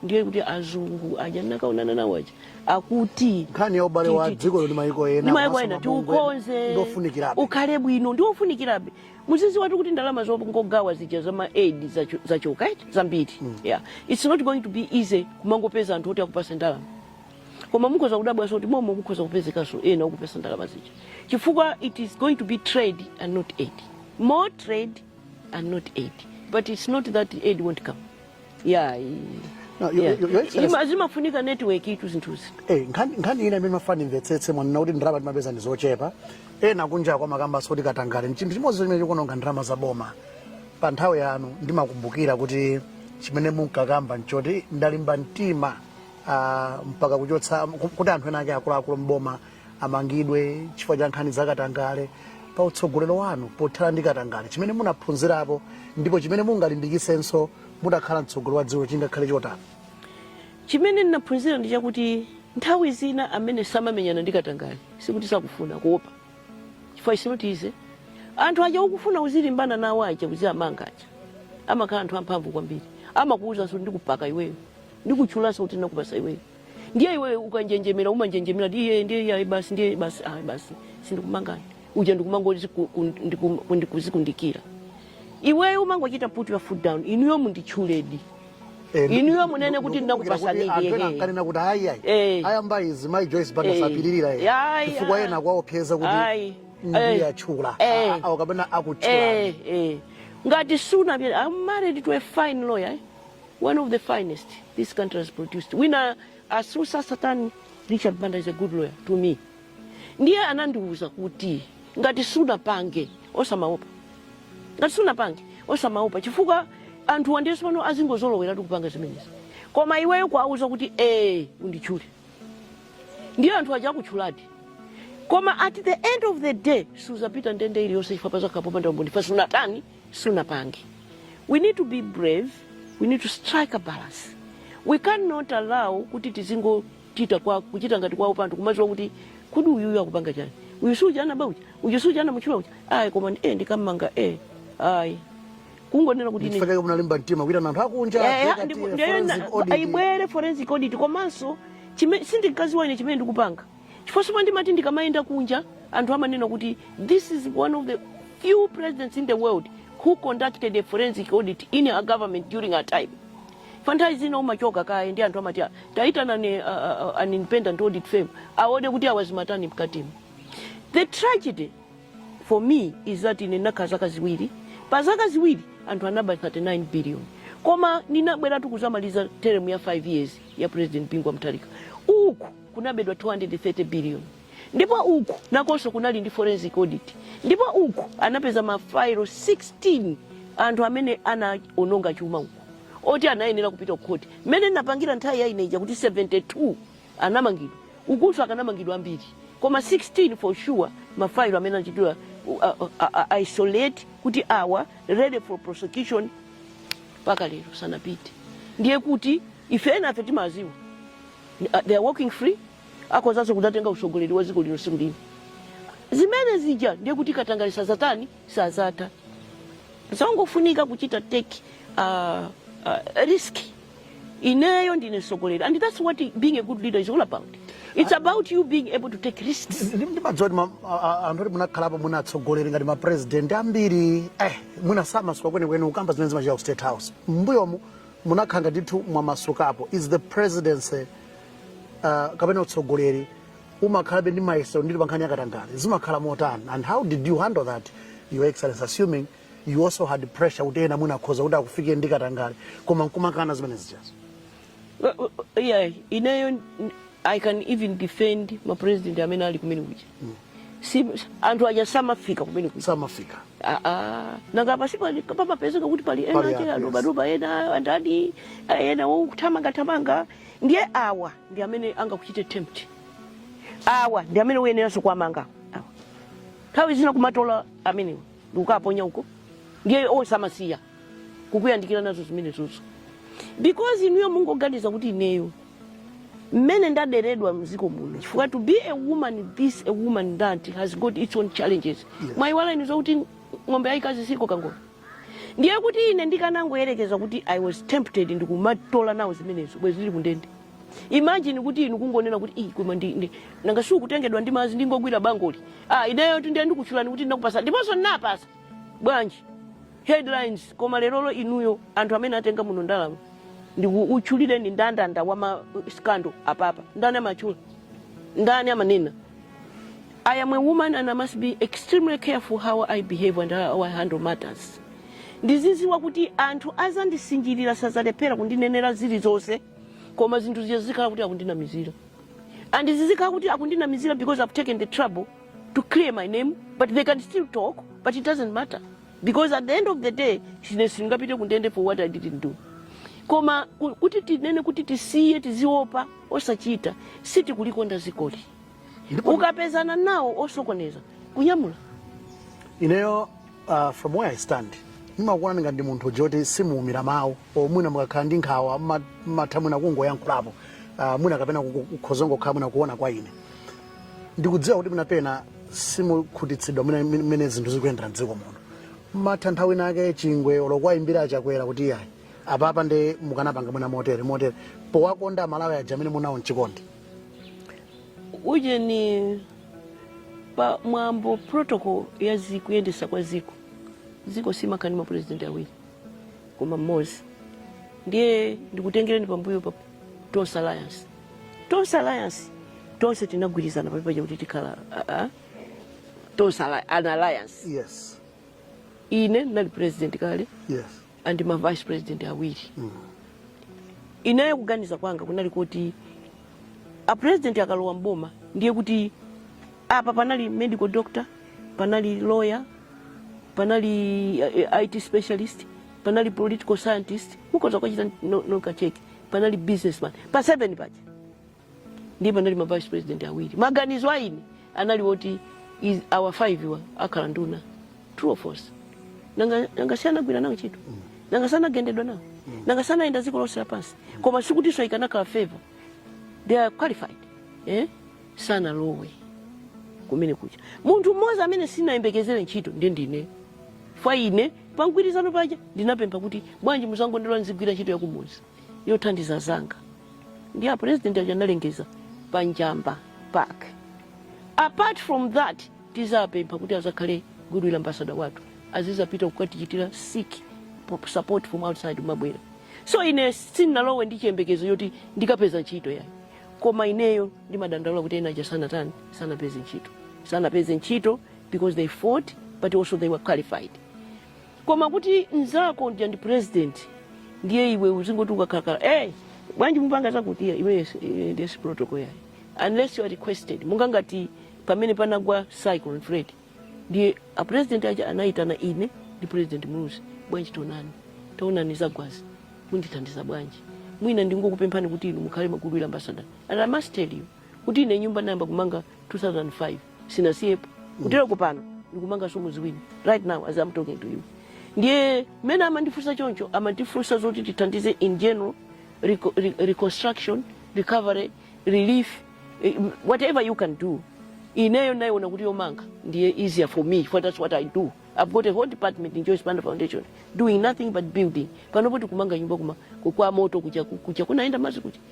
Speaker 3: ndiye kuti azungu aja ndinakaonana nawo aja akuti nkhani ya ubale
Speaker 2: wa dziko lino ndi maiko ena ndi maiko komanso ena mabungwe
Speaker 3: tiukonze ndofunikirabe. ukhale
Speaker 2: bwino ndiwo
Speaker 3: ufunikirabe mudziwetu kuti ndalama zongogawa zija za ma aid zacho- zachoka eti zambiri yeah. its not going to be easy kumangopeza anthu oti akupasa ndalama koma mukhoza kudabwanso kuti momo mukhoza kupezekanso ena okupasa ndalama zija chifukwa it is going to be trade and not aid more trade and not aid but it's not that aid won't come ya i- No, yo- ya. yo- yo Excellency- Ima- zimafunika network itu zinthuzi Eh, nkhani nkhani
Speaker 2: ina imene ndimafuna ndimvetsetse mwanena kuti ndalama timapeza ndi zochepa ena kunjaku amakambanso kuti katangale ndi chinthu chimodzi chimene chikuononga ndalama za boma pa nthawi yanu ndimakumbukira kuti chimene munkakamba nchoti ndalimba mtima ah, mpaka kuchotsa ku- kuti anthu ena ake akuluakulu mboma amangidwe chifukwa cha nkhani zakatangale pa utsogolero wanu pothana ndi katangale chimene munaphunzirapo ndipo chimene mungalimbikisenso mutakhala mtsogoleri wa dziko chingakhale chotani chimene
Speaker 3: ndinaphunzira ndi chakuti nthawi zina amene samamenyana ndi katangale sikuti sakufuna koma kuopa chifukwa it's not easy anthu aja ukufuna uzilimbana nawo aja uziamanga aja amakhala anthu amphamvu kwambiri amakuwuzanso ndikupaka iweyo ndikuchulanso kuti ndinakupasa iweyo ndiye iwe ukanjenjemera umanjenjemera ndi iye ndiye iye ayi basi ndiye basi ayi basi sindikumangani uja ndikumangoti ku- ku- ndiku- ku- ndikuzikundikira iweyo umangochita put your foot down inuyo munditchuledi inuyo munene kuti ndinakupasanidi ankanena kuti
Speaker 2: ayi ayi Eh. ayamba izi mayi joyce banda Eh. sapilirira Ayi, ayi. chifukwa ena akuwaopseza kuti Ayi. ndiye Eh. atchula Eh. awo kapena akutchula Eh, eh. ngati
Speaker 3: sunadziwe i'm married to a fine lawyer eh? One of the finest this country has produced. Wina asatsutsa zotani Richard Banda is a good lawyer to me. Ndiye anandiwuza kuti ngati sunapange osamaopa. Ngati sunapange osamaopa chifukwa anthu wandi pano azingozoloweratu kupanga zimenezi. Koma iweyo kuwauza kuti eh unditchule. Ndiye anthu aja akutchuladi. Koma at the end of the day suzapita ndende iliyonse chifukwa pazakhala popanda umboni. Pa sunatani sunapange we need to be brave we need to strike a balance we cannot allow kuti tizingochita kuchita ngati kwawopa anthu kumaziwa kuti kodi uyuyu akupanga chani uyu suja anaba uja uyu suja anamutchula uja ayi koma ndi- eh ndikam'manga eh ayi kungonena kuti ine- ndipake munalimba mtima
Speaker 2: kuitana anthu akunja Eh, eh, dzeka ndi- tiye, ndiye na- forensic audit.
Speaker 3: aibwere forensic audit komanso chime- sindinkaziwa ine chimene ndikupanga Chifukwa chomwe ndimati ndikamayenda kunja anthu amanena kuti this is one of the few presidents in the world who conducted a forensic audit in her government during her time. Pa nthawi zina umachoka kaye ndi anthu amati "Ah, taitanani uh, uh, an independent audit firm aone kuti awa amazitani mkatimo. The tragedy for me is that ine ndinakhala zaka ziwiri pa zaka ziwiri anthu anaba 39 billion koma ndinabweratu kuzamaliza teremu ya 5 years ya president bingu wa mutharika uku kunabedwa 230 billion ndipo uku nakonso kunali ndi forensic audit ndipo uku anapeza mafailo 16 anthu amene anaononga chuma uku oti anayenera kupita kukhoti mmene napangira nthawi ya ineja kuti 72 anamangidwa ukunso akanamangidwa ambiri koma 16 for sure mafailo amene anachitidwa uh, uh, uh, isolate kuti awa ready for prosecution mpaka lero sanapite ndiye kuti ife enafe timadziwa they are walking free akhozanso kudzatenga utsogoleri wa dziko lino tsiku lina zimene zija ndiye kuti katangale sazatani sazata zongofunika kuchita take uh, uh, risk ineyo ndine mtsogoleri and that's what being a good leader is all about it's about you being able to take risks ndimadziwa kuti ma-
Speaker 2: a- a- anthu oti munakhalapo mwina atsogoleri ngati mapresident ambiri eh, mwina samasuka kwenikweni kukamba zimene zimachitika ku state house mbuyomu munakhala ndithu mwamasukapo is the presidency uh, kapena utsogoleri umakhalabe ndi mayesero nditi pankhani yakatangale zimakhala motani and how did you handle that your excellency assuming you also had pressure kuti ena mwina akhoza kuti akufike ndi katangale koma nkumakana zimene zijazo Well, well, yeah,
Speaker 3: ineyo n- I can even defend ma president amene ali kumene kuja mm. si, anthu aja samafika kumene samafika
Speaker 2: ah,
Speaker 3: ah. nanga pamapezeka kuti pali ena ake adobadoba ena andani ena othamangathamanga ndiye awa ndi amene angakuchite tempt awa ndi amene uyeneranso kuwamanga nthawi zina kumatola amenewo ndikukaponya uko ndiye onse amasiya kukuyandikira nazo zimenezozo because inuyo mungoganiza kuti ineyo mmene ndaderedwa mziko muno chifukwa to be a woman as a woman that has got its own challenges yes. mwayiwala inu zokuti ng'ombe yayikazi sikoka ngolo ndiye kuti ine ndikanangoyerekeza kuti i was tempted ndikumatola nawo zimenezo bwenzi ndili kundende imagine kuti inu kungonena kuti iyi koma ndi ndi- nanga si ukutengedwa ndi madzi ndingogwira bangoli ah ineyo ndi ndikutchulani kuti ndinakupasa ndiponso ndinapasa bwanji headlines koma lerolo inuyo anthu amene atenga muno ndalama ndikuutchulireni ndandanda wa ma scandal apapa ndani amatchulidwa ndani amanena i am a woman and i must be extremely careful how i behave and how i handle matters ndiziziwa kuti anthu azandisinjirira sazalephera kundinenera zilizonse koma zinthu zija zizikhala kuti akundinamizira and zizikhala kuti akundinamizira because i've taken the trouble to clear my name but they can still talk but it doesn't matter because at the end of the day ine sindingapite kundende for what i didn't do koma ku- kuti tinene kuti tisiye tiziopa osachita sitikulikonda zikoli ukapezana nawo osokoneza kunyamula
Speaker 2: ineyo uh, from where i stand ndimakuonani ngati ndi munthu uja kuti simuumira mawu or mwina mukakhala ndi nkhawa mma- mmatha mwina kungoyankhulapo uh, mwina kapena kukhoza kungokhala mwina kuona kwa ine ndikudziwa kuti mwina pena simukukhutitsidwa mwina mmene mmene zinthu zikuyendera mdziko muno mumatha nthawi inake chingwe olo kuwayimbira a chakwera kuti iyayi apapa nde mukanapanga mwina motere motere powakonda amalawi aja amene muli nawo mchikondi
Speaker 3: uje ni pa mwambo protocol ya ziko kuyendesa kwa ziko ziko simakhala ndi mapurezidenti awiri koma mmodzi ndiye ndikutengereni pambuyo pa tonse alliance tonse alliance tonse tinagwirizana paja kuti tikhala ah, ah, tonse ala- an alliance
Speaker 2: yes ine
Speaker 3: ndinali president kale yes and ma
Speaker 2: vice
Speaker 3: president awiri ineyo kuganiza kwanga kunali kuti a president akalowa mboma ndiye kuti apa panali medical doctor panali lawyer panali eh, IT specialist panali political scientist mukoza kwachita no kacheki panali businessman pa 7 paja ndiye panali ma vice president awiri maganizo a ine anali woti is- awa 5 wa akhala nduna true or false nanga nanga si anagwira nawo ntchito nanga sanagendedwa nawo nanga sanayenda dziko lonse lapansi koma sikutinso ikanakhala favor they are qualified eh? sanalowe kumene kucha munthu mmodzi amene sinayembekezere ntchito ndi ndine fa ine Pa mgwirizano paja ndinapempha kuti bwanji muzangondilola nizigwira ntchito yakumuzi yothandiza zanga ndi a president aja analengeza pa Njamba Park. Apart from that tizapempha kuti azakhale goodwill ambassador wathu azizapita kukatichitira seek po- support from outside m'mabwera. So ine sinalowe ndi chiyembekezo choti ndikapeza ntchito yayi koma ineyo ndimadandaula kuti ena aja sanatani sanapeze ntchito sanapeze ntchito because they fought but also they were qualified koma kuti mzako uja ndi president ndiye iwe uzingoti ukakhalakhala hey, bwanji mupanga zakuti iya iwe yes- eh, ndesi protocol yayi unless you are requested monga ngati pamene panagwa cyclone freddy ndiye a president aja anayitana ine ndi president muluzi bwanji tonani taonani zagwazi mundithandiza bwanji mwina ndingokupemphani kuti inu mukhale ma goodwill ambassador and i must tell you kuti ine nyumba nayamba kumanga 2005 sinasiyepo kutero kupano ndikumanga zomo ziwiri right now as I'm talking to you ndiye mmene amandifunsa choncho amandifunsa zoti tithandize in general reco re reconstruction recovery relief eh, whatever you can do ineyo ndinaona kuti yomanga ndiye easier for me for that's what i do i've got a whole department in joyce banda foundation doing nothing but building panopo tikumanga nyumba kuma kwa moto kuja kuja kunaenda madzi kuja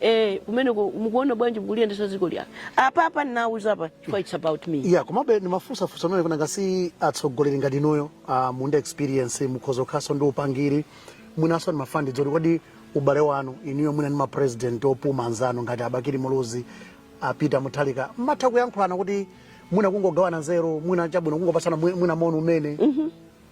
Speaker 3: Eh, kumeneko mukuona bwanji mukuliyendesa dziko iyayi apa apa ndinawuza apa chifukwa it's about me ya komabe ndimafunsafunsa
Speaker 2: amene kunanga si atsogoleri ngati inuyo uh, muli ndi experience mukhoza kukhalanso ndi upangiri mwinanso ndi ndimafuna ndidziwe kodi ubale wanu inuyo mwina ndi mapresident opuma anzanu ngati a Bakili Muluzi a Peter Mutharika mumatha kuyankhulana kuti mwina kungogawana nzeru mwina chabwino kungopatsana mwi- mwina moni kumene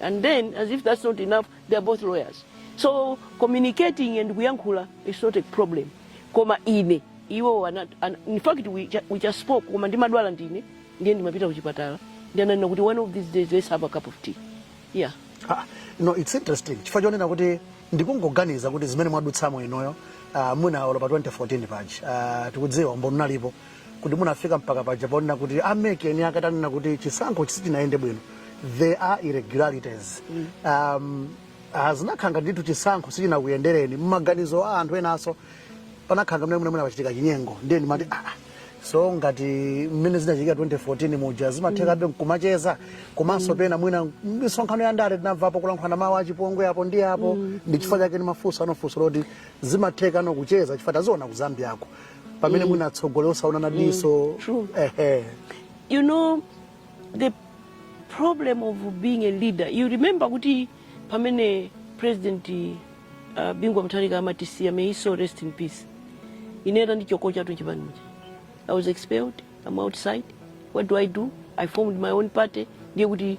Speaker 3: and then as if that's not enough they are both lawyers so communicating and kuyankhula is not a problem koma ine iwo ana, ana, in fact we, ju- we just spoke koma ndimadwala ndine ndiye ndimapita kuchipatala ndiye ananena kuti one of these days let's have a cup of tea yeah Ah,
Speaker 2: no it's interesting chifukwa chonena kuti ndikungoganiza kuti zimene mwadutsamo inuyo ah, mwina olo pa 2014 paja ah, tikudziwa umboni unalipo kuti munafika mpaka paja ponena kuti a MEC eni ake atanena kuti chisankho sichinayende bwino there are irregularities mm. um, ah, zinakhanga ndithu chisankho sichinakuyendereni mmaganizo a anthu enaso panakhala ngati mmene munachitika chinyengo ndiye ndimati ah, ah, so ngati mmene zinachitika 2014 muja zimathekabe mm. kumacheza komanso mm. pena mwina misonkhano ya ndale tinamvapo kulankhulana mawu achipongwe apo ndi apo mm. ndi chifukwa chake ndimafunsa nafunso loti zimatheka nokucheza chifukwa taziona ku zambiyako pamene mm. mwina atsogoleri osaonana mm. diso mm.
Speaker 3: ehe you know the problem of being a leader you remember kuti pamene president uh, Bingu wa Mutharika amatisiya may his soul rest in peace ine anandichotsa chatu chipanichi i was expelled i'm outside what do i do i formed my own party ndiye kuti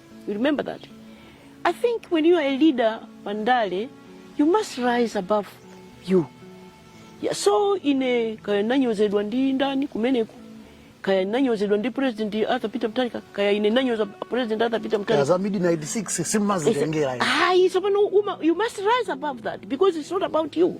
Speaker 3: You remember that? I think when you are a leader, Pandale, you must rise above you. Yeah, so ine kaya nanyozedwa ndi ndani kumeneku kaya nanyozedwa ndi president Arthur Peter Mutharika kaya ine nanyoza president Arthur Peter Mutharika kaya za midnight 6
Speaker 2: sindimazitengera. Ayi, so you
Speaker 3: must rise above that because it's not about you.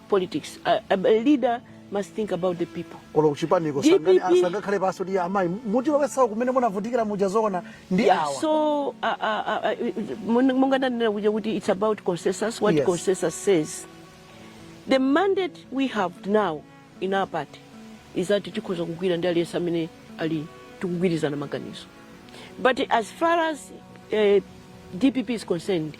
Speaker 3: politics. A, a, a leader must think about the people. olo kuchipaniko
Speaker 2: DPP. sangakhaleponso ndi amayi muti muwauze kumene munavutikira muja zoona ndi Yeah, awa so uh, uh,
Speaker 3: uh, mon- monga ndanena kuja kuti it's about consensus what Yes. consensus says the mandate we have now in our party is that tikhoza kugwira ndi aliyense amene ali tikugwirizana maganizo but as far as uh, dpp is concerned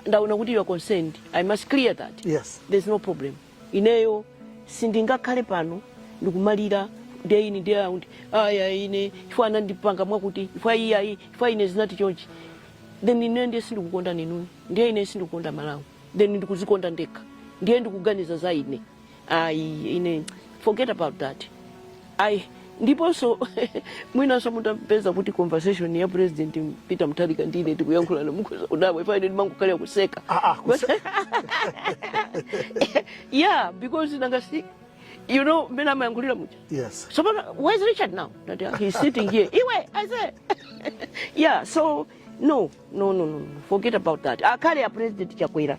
Speaker 3: ndaona kuti you are concerned i must clear that yes. there's no problem ineyo sindingakhale pano ndikumalira day in day out ayayi ine chifukwa anandipanga mwakuti chifukwa iye ayi chifukwa ine zinati chonchi then ine ndiye sindikukonda inu ndiye ine sindikukonda malawi then ndikuzikonda ndekha ndiye ndikuganiza za ine ayi ine forget about that ayi ndiponso mwinanso mutapeza kuti conversation ya president peter mutharika ndi ine tikuyankhulana mukhoza kudabwa chifukwa ine ndimangokhala kuseka Ah, ah, kuse- yeah because nanga si you know mmene amayankhulira muja yes so
Speaker 2: but where's
Speaker 3: richard now That, uh, he's sitting here iwe i say yeah so no no no no no. forget about that akhale a president chakwera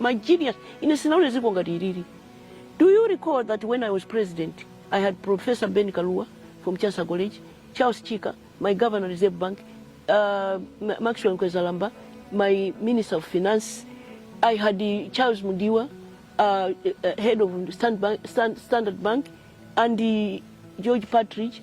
Speaker 3: my genius ine sinaone dziko ngati ilili do you recall that when i was president i had professor ben kalua from chansa college charles chika my governor reserve bank uh, Ma- maxwell nkwezalamba my minister of finance i had uh, charles mudiwa uh, uh, head of Stan- Bank- Stan- standard bank and uh, george partridge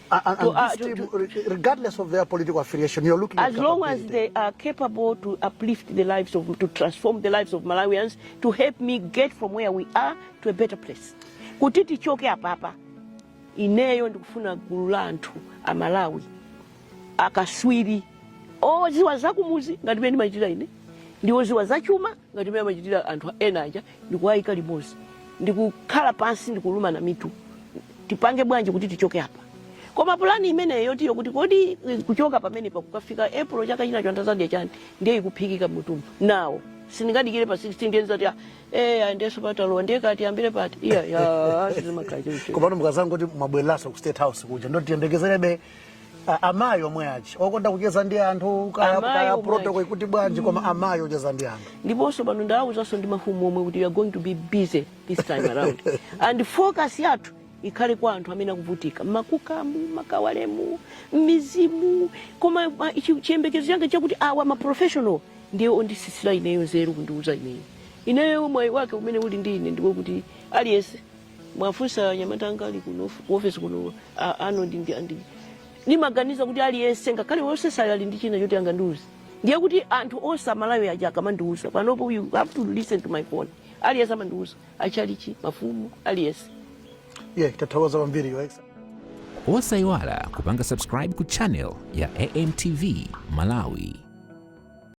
Speaker 3: A- a- to, and uh, this to, team, to,
Speaker 2: re- regardless of their political affiliation, you're looking as at long as capability. they are
Speaker 3: capable to uplift the lives of, to transform the lives of Malawians, to help me get from where we are to a better place. Kuti tichoke apapa, ineyo ndikufuna gulu la anthu a Malawi, akaswiri, oziwa zakumuzi ngati mene machita ine, ndi oziwa zachuma ngati mmene amachitira anthu ena aja ndikuwaika limodzi ndikukhala pansi ndikulumana mitu tipange bwanji kuti tichoke apa koma pulani imeneyo yoti yokuti kodi eh, kuchoka pamenepa kukafika april chaka china anthu adzadya chani ndiye ikuphikika mmutumu inenso sindingadikire pa 16 ndiye ndizati ah, eh andalenso patalowa ndiye kuti ambiri pati iya ya sizimakhala choncho komano mukazangoti
Speaker 2: mwabwereranso ku state house kuja ndoti tiyembekezerebe A- amayi omwe aja okonda kucheza ndi anthu kaya protocol ikuti bwanji koma amayi ocheza ndi anthu ndiponso pano ndawuzanso
Speaker 3: ndi mafumu omwe kuti you are going to be busy this time around and focus yathu ikhale kwa anthu amene akuvutika mmakukamu makawalemu mmizimu koma ma- chi- chiyembekezo changa chakuti awa maprofessional ndiye ondisisira ineyo nzeru kundiuza ineyo ineyo mwayi wake umene uli ndi ine ndiwo kuti aliyense mwafunsa anyamata anga ali kuno ku office kuno a- ano ndi ndi andi ndimaganiza kuti aliyense ngakhale wosesayo ali ndi china choti angandiuze ndiye kuti anthu onse amalawi aja akamandiuza panopo you have to listen to my phone aliyense amandiuza achalichi mafumu aliyense yeah
Speaker 2: tathokoza kwambiri yo exa
Speaker 1: osayiwala kupanga subscribe ku channel ya amtv malawi